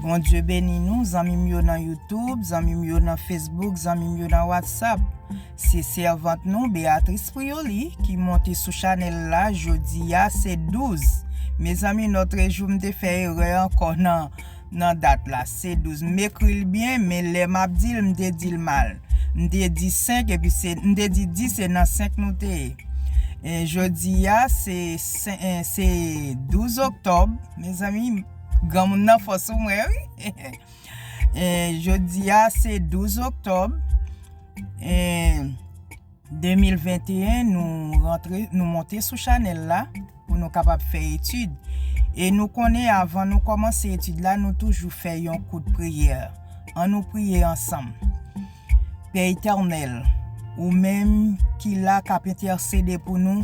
Bondye beni nou zanmi m yo nan YouTube, zanmi m yo nan Facebook, zanmi m yo nan WhatsApp. Se sèvant nou Beatrice Prioli ki monte sou chanèl la jodi a se 12. Mezanmi notre jour m te fè erè ankò nan nan dat la se 12. M ekri l byen men lè map di l m te di l mal. M te di 5 epi se m te di 10 se nan 5 nou te ye. Jodi a se 12 oktòb. Mezanmi granmoun nan fò sou mwen wi e jodi a se 12 oktob e 2021 nou rantre nou monte sou chanel la pou nou kapab fè etid e nou konnen avan nou komanse etid la nou toujou fè yon kout priyè an nou priye ansanm Pè Etènèl ou menm ki la kap entèsede pou nou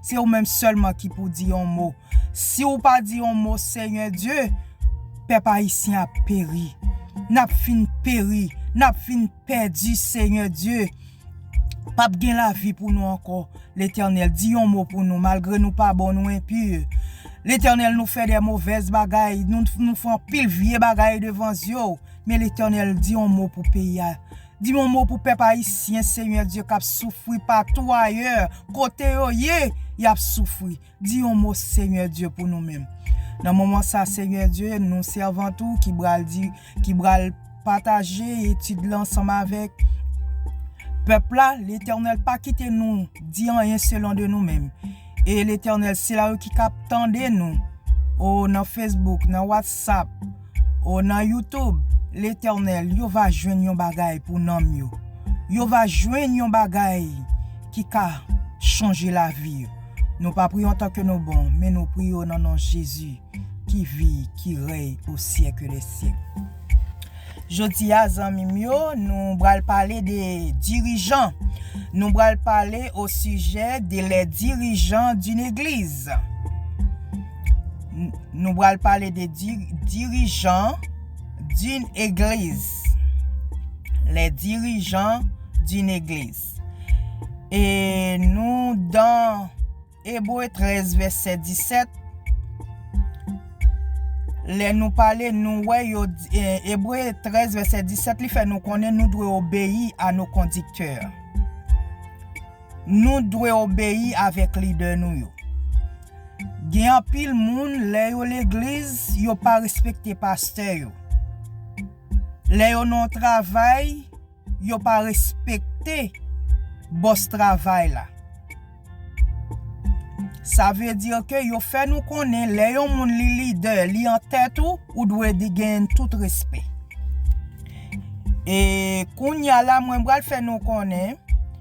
Se ou menm sèlman ki pou di yon mo. Si ou pa di yon mo Senyè Dye, pèp Ayisyen ap peri. N ap fin peri, n ap fin pèdi Senyè Dye. P ap gen lavi pou nou ankò. Letènèl di yon mo pou nou malgre nou pa bon, nou enpi. Letènèl nou fè de movèz bagay, nou fè anpil vye bagay devan zye w. Men Letènèl di yon mo pou peyi a. Di yon mo pou pèp ayisyen Senyè Dye kap soufri patou ayè kote yo ye yap soufri di yon mo Senyè Dye pou nou menm nan moman sa Senyè Dye nou sèvant ou ki bral di ki bral pataje etid lan ansanm avèk pèp la letènèl pa kite nou di anyen selon de nou menm e letènèl sila yo ki kap tande nou o nan fesbouk nan watsap O, nan Youtube, Letènèl, yo va jwenn yon bagay pou nanm yo. Yo va jwenn yon bagay ki ka chanje lavi yo. Nou pa priye antan ke nou bon, men nou priye o nan non Jezi ki vi, ki rèy o syèke dè syèk. Jodi a, zanmi m yo, nou bral pale de dirijan. Nou bral pale o sijè de les dirigeants d'une église. Nou bral pale de dirijan d'une église. Les dirijan d'une église. E nou dan Ebre 13 vese 17. Le nou pale nou we yo Ebre 13 vese 17 li fe nou konnen nou dwe obeyi a nou kondikte. Nou dwe obeyi avèk lidè nou yo. Gen anpil moun lè yo legliz yo pa respekte pastè yo. Lè yo nan yon travay yo pa respekte bòs travay la. Sa vle di ke yo fè nou konnen lè yon moun li lidè, li an tèt ou, ou dwe genyen tout respè. E kounya la mwen pral fè nou konnen.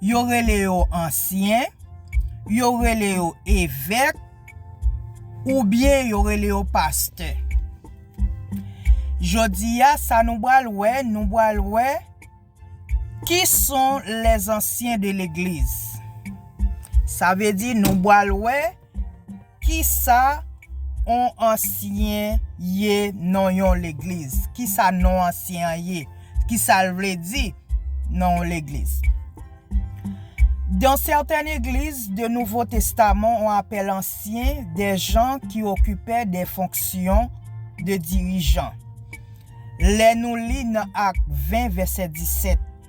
Yo rele yo ansyen, yo rele yo evèk, oubyen yo rele yo pastè. Jodi a, sa nou bal wè, nou bal wè ki son les anciens de l'eglise. Sa vle di nou bal wè. Kisa on ansyen ye non yon legliz? Kisa non ansyen an ye? Kisal vle di non yon legliz? Dans certaines églises de nouveau testament on appelle anciens des gens qui occupaient des fonctions de dirigeants lè nou li nan Acte 20 verset 17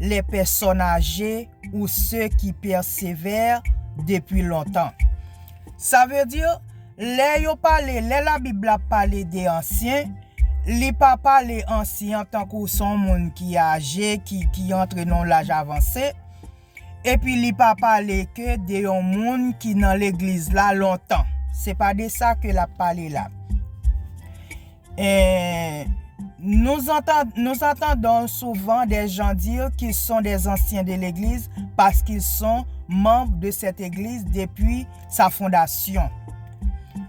les personnes âgées ou ceux qui persévèrent depuis longtemps. Sa vle di, lè yo pale, lè la Bib la pale de ansyen, li pa pale ansyen an tankou son moun ki aje, ki antre nan yon laj avanse, epi li pa pale ke de yon moun ki nan legliz la lontan. Se pa de sa ke l ap pale la. Nous entendons souvent des gens dire qu'ils sont des anciens de l'Eglise parce qu'ils sont membres de cette Eglise depuis sa fondation.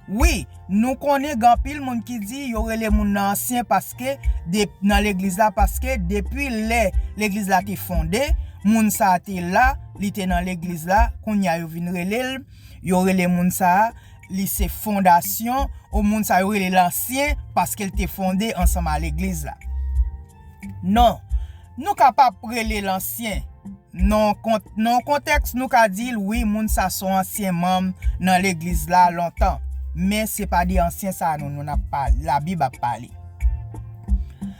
Wi, nou konnen gen anpil moun ki di yo rele moun nan ansyen paske, nan legliz la paske depi lè legliz la te fonde, moun sa a te la, li te nan legliz la, kounye a yo vin rele l, yo rele moun sa a Li se fondasyon, ou moun sa yo rele lansyen, paske l te fonde ansanm a legliz la. Non. Nou ka pa p rele l ansyen. Non yon kontèks nou ka di l wi moun sa son ansyen manm nan legliz la lontan. Men se pa de ansyen sa nou nou n ap pale, labib ap pale.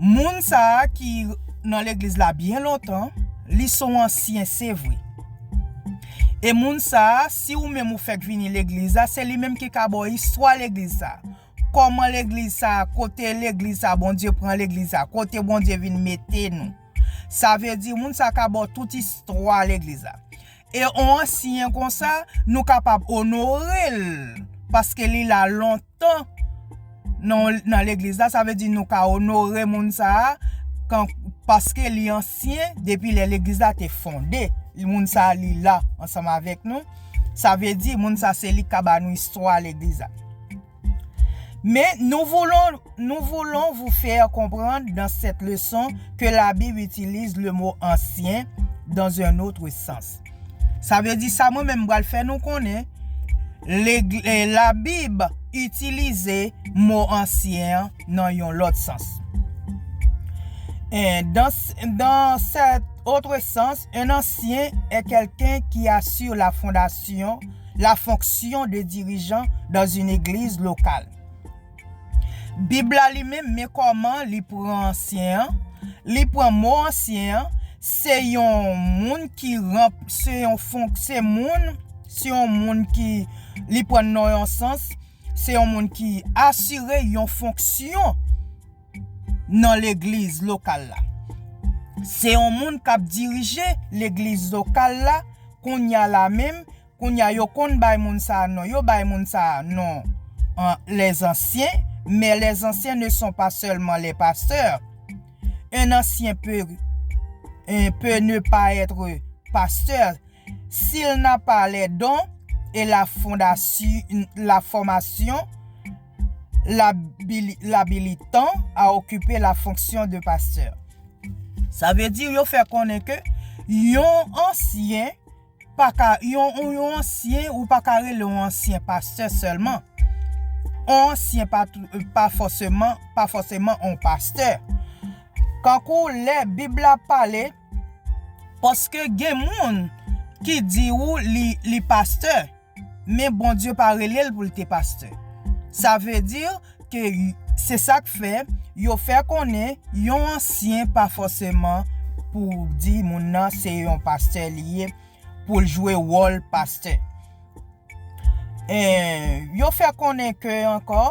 Moun sa a ki nan legliz la byen lontan, li son ansyen se vre. E moun sa a, si ou menm ou fèk vini legliz la, se li menm ki ka ba w istwa legliz sa a. Kòman legliz sa a, kote legliz sa a Bondye pran legliz sa a, kote Bondye vin mete nou. Sa vle di moun sa a ka ba w tout istwa legliz la. E on ansyen konsa, nou kapab onore l paske li la lontan. tan nan legliz la, sa vle di nou ka onore moun sa a paske li ansyen depi lè legliz la te fonde. Moun sa a li la ansanm avèk nou. Sa vle di moun sa a se li ki ka ba nou istwa legliz la. Men nou voulon, nou voulon vou fè konprann dan sèt leson ke labib itilize le mo ansyen dan zen otre sans. Sa vle di sa mwen menm m pral fè nou konnen Labib itilize mo ansyen an nan yon lòt sans. Dans sèt otre sans, un ancien est quelqu'un qui assure la fondation, la fonction de dirigeant dans une église locale. Bib la li menm, men kòman li pran ansyen an, li pran mo ansyen an, se yon moun ki ranp, se yon fon, se moun, se yon moun ki li pran l nan yon sans, se yon moun ki asire yon fonksyon nan legliz lokal la. Se yon moun k ap dirije legliz lokal la, kounya la menm. Kounya yo konn bay moun sa non yo bay moun sa non an les anciens mais les anciens ne sont pas seulement les pasteurs un ancien peut peut ne pas être pasteur s'il n'a pas les dons et la fondation la formation l'habilitant à occuper la fonction de pasteur sa veut dire yo fè konnen ke yon ancien paka yon yon ansyen ou pa ka rele yon ansyen pastè sèlman yon ansyen pa pa fòseman pa fòseman yon pastè kankou lè bib la pale paske gen moun ki di ou li li pastè. Men Bondye pa rele l pou l te pastè. Sa vle di ke se sa k fè yo fè konnen yon ansyen pa fòseman pou w di moun nan se yon pastè li ye pou l jwe wòl pastè. Yo fè konnen ke ankò.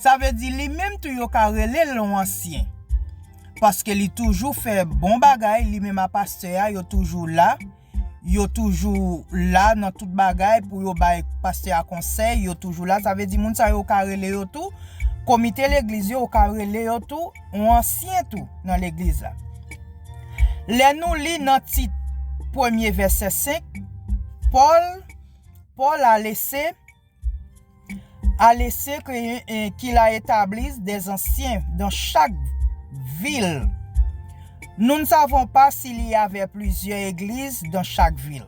Sa vle di li menm tou yo ka rele l yon ansyen. Paske li toujou fè bon bagay li menm a pastè a yo toujou la, yo toujou la nan tout bagay pou yo bay pastè a konsèy yo toujou la sa vle di moun sa yo ou ka rele yo tou komite legliz yo ou ka rele yo tou yon ansyen tou nan legliz la. Lè nou li nan Tit premye vèsè 5 Pòl Pòl a lese A lese ke la etablis des ansyen dan chak vil. Nou n savon pa si li y avè plizyè egliz dan chak vil.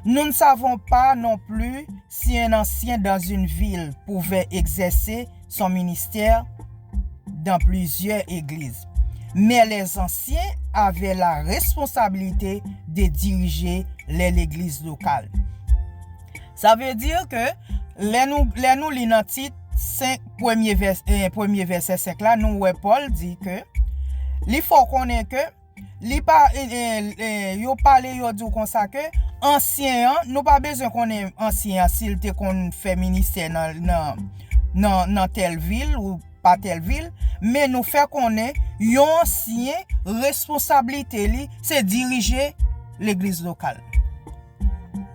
Nou n savon pa non pli si en ansyen dan zin vil pouvè egzèse son ministè dan plizyè egliz. Men les ansyen avè la responsabilite de dirije les legliz lokal. Sa vle di ke lè nou li nan tit 5 premye vèsè 5 la nou wè Pòl di ke li fè w konnen ke yo pale yo di w konsa ke ansyen an, nou pa bezwen konnen ansyen an si l te konn fè ministè nan tèl vil ou pa tèl vil men nou fè konnen yon ansyen responsablite li se dirije legliz lokal.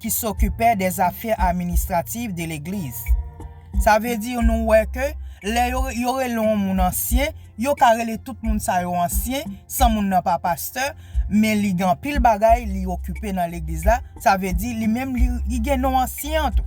ki s'occupait des affaires administratives de l'Eglise. Sa vle di nou wè ke lè yo rele yon moun ansyen, yo ka rele tout moun sa yo ansyen san moun nan pa pastè, men li gen anpil bagay li okipe nan legliz la, sa vle di li menm li gen non ansyen an tou.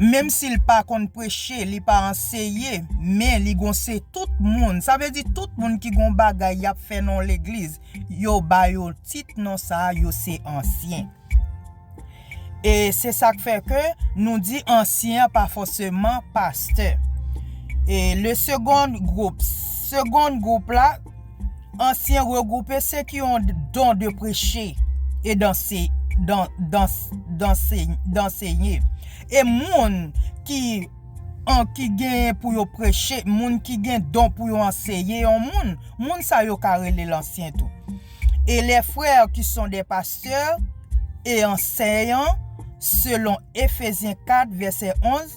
Menm sil pa konn preche li pa anseye men li gon se tout moun sa vle di tout moun ki gon bagay yap fè nan yon legliz yo ba yo tit non sa yo se ansyen e se sak fè ke nou di ansyen an pa fòseman pastè e le segond gwoup segond gwoup la Ansyen regroupe se ki yon don de preche e dansenye. E moun ki gen pou yo preche, moun ki gen don pou yo anseye yon moun, moun sa yo ka rele lansyen tou. E lè frè ki son de pastè e anseyan selon Efezyen 4 vèsè 11.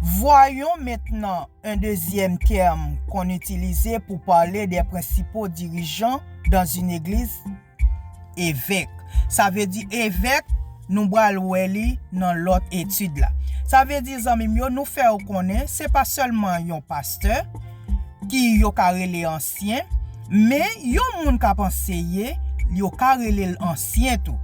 Vwayon mentnan un dezyèm tèm kon itilize pou pale de prensipo dirijan dan un egliz, evèk. Sa vle di evèk, nou bwal wè li nan lòt etid la. Sa vle di zanmi m yo, nou fè ou konnen se pa sèlman yon pastè, ki yo ka rele ansyen, men yon moun k ap anseye, yo ka rele l ansyen tou.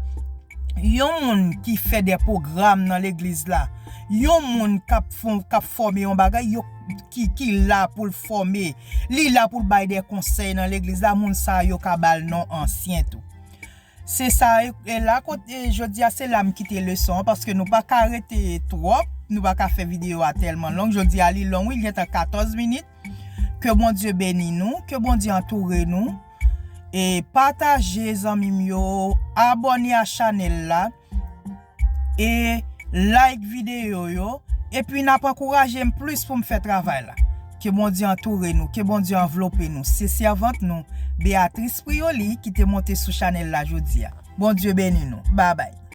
yon moun ki fè dè pwogram nan legliz la, yon moun k'ap fòme yon bagay, yo ki la pou l' fòme, li la pou l' bay dè konsèy nan legliz la, moun sa yo ka ba l' non ansyen tou. Se sa, e la kote jodi a se la m' kite leson an paske nou pa ka rete twòp, nou pa ka fè videyo a tèlman long, jodi a li long wi, li gentan 14 minit. Ke Bondye beni nou, ke Bondye antoure nou e pataje zanmi m yo, abòne a chanèl la e like videyo yo epi nap ankouraje m plis pou m fè travay la. Ke Bondye antoure nou, ke Bondye anvlope nou. Se sèvant nou Beatrice Prioly ki te monte sou chanèl la jodia. Bondye beni nou. Babay.